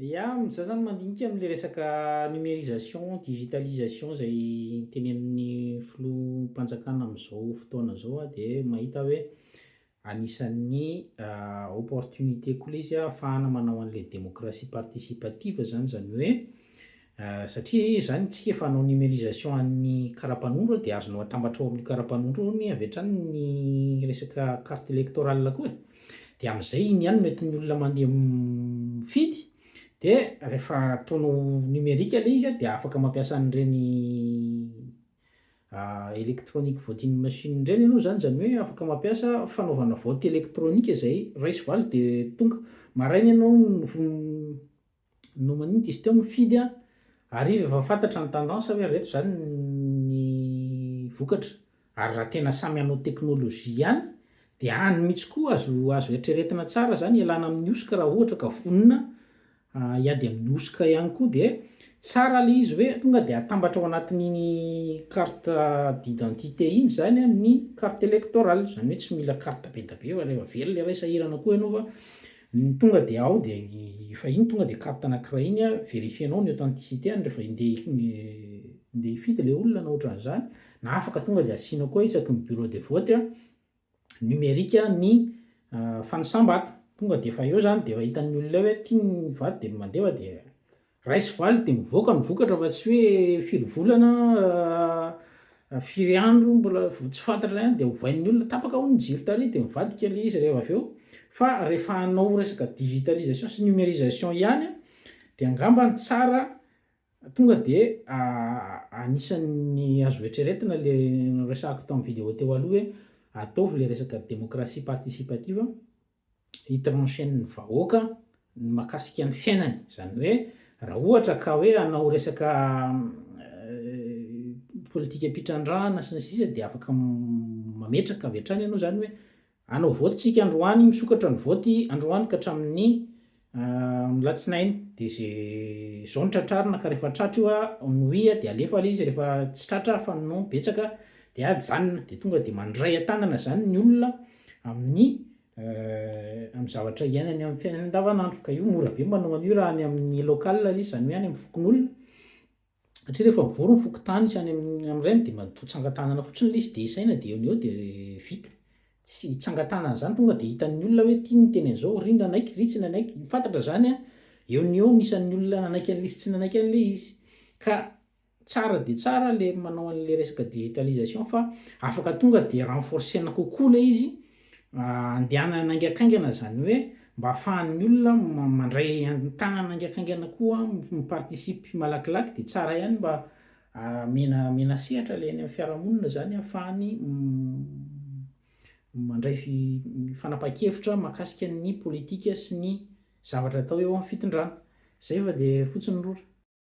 Ia, za zany mandinika amle resaka numerisation, digitalisation zay tenenin'ny filoham-panjakana amzao fotoana zao aho de mahita hoe anisan'ny opportunité koa le izy ahafahana manao anle démocratie participative zany, zany hoe Satria izany isika efa hanao numerisation an'ny karapanondro dia azonao atambatra ao amin'io karapanondro io hono avy hatrany ny resaka carte electorale koa e. Dia amin'izay iny ihany no entin'ny olona mandeha mifidy dia rehefa ataonao numerique ilay izy dia afaka mampiasa an'ireny electronic voting machine ireny ianao izany, izany hoe afaka mampiasa fanaovana vote electronique izay ray sy valo dia tonga maraina ianao no maninona izy teo mifidy a! Hariva efa fantatra ny tendance hoe ireto izany ny vokatra. Ary raha tena samy hanao teknolojia ihany dia any mihitsy koa azo azo eritreretina tsara izany hialana amin'ny hosoka raha ohatra ka vonona hiady amin'ny hosoka ihany koa dia tsara ilay izy hoe tonga dia atambatra ao anatin'iny carte d'identité iny izany ny carte electorale, izany hoe tsy mila carte be dia be fa rehefa velona iray sahirana koa ianao fa Ny tonga dia ao dia efa iny tonga dia carte anankiray iny a verifier-nao ny authenticité-ny rehefa ndeha hifidy ilay olona na ohatran'izany na afaka tonga dia asianao koa isaky ny bureau de vote a numerique ny fanisam-bato tonga dia efa eo izany dia efa hitan'ny olona eo hoe tiany ny vato dia mandeha dia Raiso valy dia mivoaka ny vokatra fa tsy hoe firy volana na firy andro mbola tsy fantatra ihany dia ovain'ny olona, tapaka hono ny jiro tary dia mivadika ilay izy reheva avy eo, fa rehefa hanao resaka digitalisation sy numerisation ihany dia angamba ny tsara tonga dia anisan'ny azo eritreretina ilay noresahako tamin'ny vidéo teo aloha hoe ataovy ilay resaka démocratie participative, hi trancher ny vahoaka ny makasika ny fiainany zany hoe raha ohatra ka hoe hanao resaka politika mpitrandrahana sy ny sisa dia afaka mametraka avy hatrany ianao zany hoe hanao vote tsika androany misokatra ny vote androany ka hatramin'ny Amin'ny alatsinainy dia izay izao no tratrarina ka rehefa tratra io nouille a dia alefa ilay izy rehefa tsy tratra fa ny nouille betsaka dia ajanona dia tonga dia mandray an-tanana izany ny olona amin'ny amin'ny zavatra iainany amin'ny fiainany andavanandro ka io mora be ny manao an'io raha any amin'ny local aloha izy izany hoe any amin'ny fokonolona Satria rehefa mivory ny fokontany sy any amin'ny amin'ireny dia mba toa tsangan-tanana fotsiny ilay izy dia isaina dia eo no eo dia vita. Tsy tsangan-tanana izany tonga dia hitan'ny olona hoe ity niteny an'izao ry nanaiky ry tsy nanaiky. Fantatra izany an! Eo no eo ny isan'ny olona nanaiky an'ilay izy sy tsy nanaiky an'ilay izy. Ka tsara dia tsara ilay manao an'ilay resaka digitalisation fa afaka tonga dia renforcer-na kokoa ilay izy, Andehanana haingankaingana izany hoe mba ahafahan'ny olona mandray an-tanana haingankaingana koa mi-participe malakilaky dia tsara ihany mba amena amena sehatra ilay any amin'ny fiarahamonina izany ahafahany mandray fanapahan-kevitra mahakasika ny politika sy ny zavatra atao eo amin'ny fitondrana. Izay fa dia fotsiny rora.